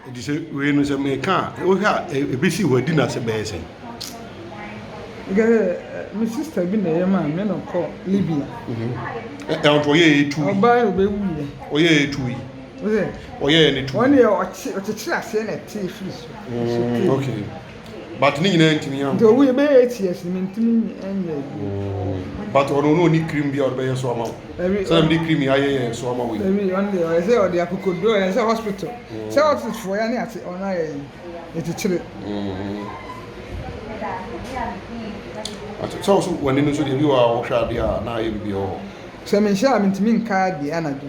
Enti sɛ wei no, sɛ meka a, wohwɛ a ebesi hɔ adi no ase bɛyɛ sɛn? Nka sɛ me sista bi na ɛyɛ maa me na ɔkɔ Libya. Ɛwɔ nti ɔyɛɛ etu. Ɔbaa yɛ ɔbɛwu yɛ. Ɔyɛɛ etu yi. Ɔyɛɛ ne tu. Ɔne ɔkyekyere aseɛ na ɛte firi so. Okay. but ne nyinaa ntumi anko. nti owu yɛ bɛyɛ eight years mi ntumi nyɛ yi. Oh, but ɔno ɔno ɔni cream bi a ɔde bɛyɛ so ama wo sɛdeɛ mede cream yɛ ayɛ yɛ so ama wo yi. ɛwi ɔno deɛ ɔyɛ sɛ ɔde akokoduro yɛ sɛ hospital mm. sɛ hospital fo yɛ ne ate ɔno ayɛ yi ɛkyekyere. Mm-hmm. sɛ wo so w'ani no so deɛ bi wɔ a wohwɛ adeɛ a na ayɛ biribi wɔ hɔ. sɛ menhyɛ a mentumi nka adeɛ anadwo.